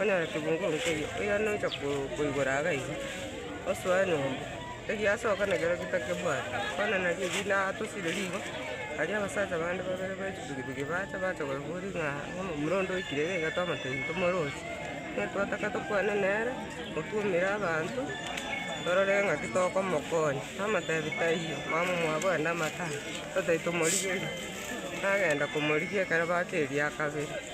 Onyore kebungo nkeria, oyo nocha koigora iga iga, osoe nyomba, egiasoka nakio orokia takebwati, bono nario erio natosire rigo, aria abasacha bande babere be chipikipiki bacha, bacha koigora ng'a omomura onde oikire iga iga tomotebi tomorosie, nigo twataka tokwane nere, otwomire abanto, torore ng'aki tokomokonya, tomotebi taiyo, mama mwabo ande amatama, totebi tomorigerie, nagenda komorigia ekero baka eria kabere.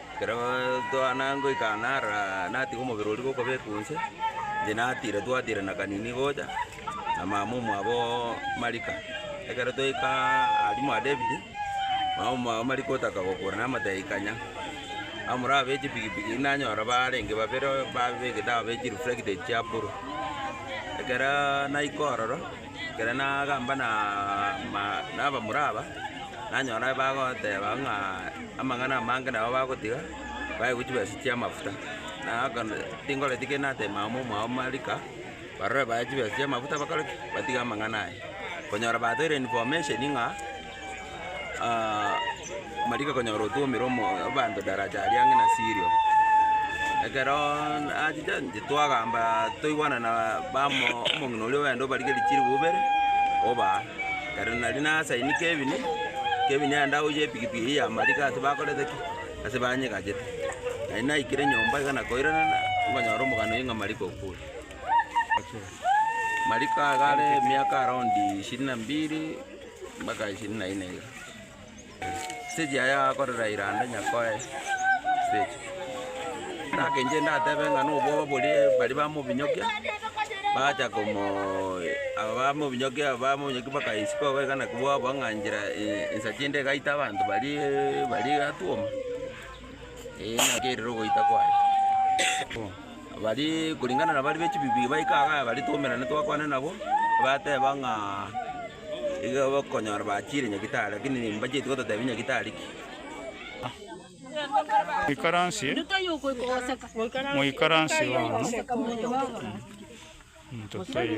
Ekero twana ngoika nara natiga omobere oria gokobekwa inse, inche natira twatira na kanini gocha na mama omwabo Marika. Ekero twaika aria mwa David, mama omwabo Marika otaka gokora namotebia ikanya, amura abe chipigipigi nanyora barenge babere babegete abe chireflected chia buru. Ekero naika ororo. Ekero nagamba na ma nabamura aba, nanyora bagoteba ng'a amang'ana amange nabo bagotiga, baegwe chibesa chi'amafuta. Nagakana tingoreti kende natebia mama omwao marika, barore bae chibesa chi'amafuta bakore ki? batiga amang'ana aya. Konyora batoire information ng'a. mariko okonyora otwomire omo abanto daraja aria ang'e na Sirio. Ekeroooo nachiche inche twagamba toigwana na bamo omong'ina oria oende obarige richiribu ibere, oba aa. Ere nari nasaini Kevin, Kevin aende aoche epikipiki eye ya mariko ase bakorete ki? Ase banyegachete. Nari naikire nyomba iga nakoiranana, nkonyora omogano oyo ng'a mariko okure. Mariko agare emiaka around ishirini na mbili. Mpaka ishirini na ine iga. Stage yaye akorera iranda nyakoe stage. Endagaka enchia ndatebe ng'a nobwoba boria baria bamobinyokia, bacha komo aba bamobinyokia aba bamobinyokia bakaisiko iga iga naki bwabua ng'a nchera eye ensacha ende egaita abanto baria baria egatwoma, eh naki erire ogoita kwaye. Bono baria kuringana na baria be chibibi baika iga baria twaumerana twakwana nabo, bateba ng'a. Iga bakonyora bachire nyagitari, lakini mbacheti gototebia nyagitari ki. Moikaransie, moikaransie bono, into toiyo.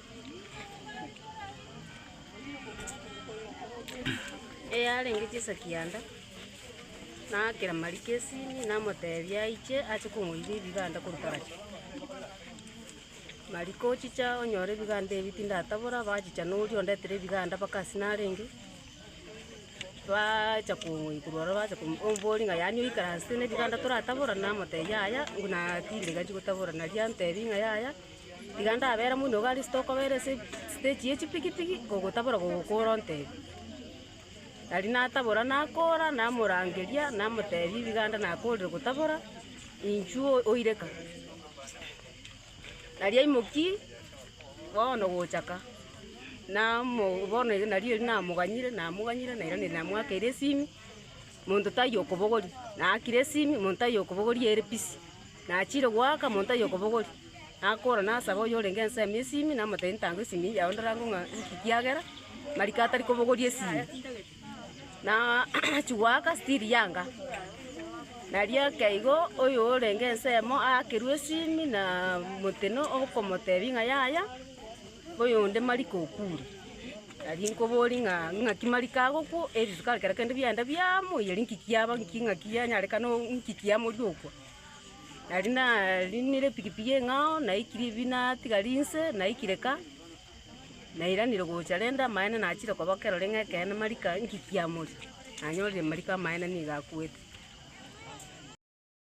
eyarenge chisa kianda, naakera Mariko esimi namotebia aiche ache kong'oira ebiganda korwa Tarachi. Mariko ochicha onyore ebiganda ebi tindatabora, bachicha na oria ondetere ebiganda mpaka ase narenge, baacha kong'oini korwa ororo bacha komo- omboria ng'a yaani oikaransete na ebiganda toratabora? Namotebia yaya, buna tindegani chigotabora. Naria antebi ng'a yaya. Tiga ndabere moino gari ase tokobera ase stage ye chipigipigi, ogotabora gogokora ontebie. Tari natabora nakora, namorangeria, namotebia ebiganda nakorire gotabora, inchuo oire ka. Nari aimoki, bono gocha ka, namo bono ere nari eri namoganyire, namoganyire, nairaneria namoakeire esimi, monto taiyo okobogoria, naakire esimi, monto taiyo okobogoria ere busy. Nachiire goaka monto aye okobogori, nakoora nasaba oyorenge ensemo y'esimi, namotebia, Ntanga esimi yao ndorange ng'a nki kiagera mariko atari kobogoria esimi. Na achia goaka stiri yanga. Nari eke igo oyorenge ensemo aakerwe esimi na motino okomotebia ng'a yaya, oyonde mariko okure. Nari nkoborie ng'a ng'aki mariko agokwa, erituko aria kera kende biagenda biamoiyire nki kiaba nki ng'aki yanyarekana o- nki kiamoria okwa. Nari nariinire epikipiki eng'ao, naikirie ebi natigari inse, naikire ka, nairanire gocha rende amaene nachire koba ekero reng'e ekeene marika ngikiamori, nanyorire marika amaene nigo akwete.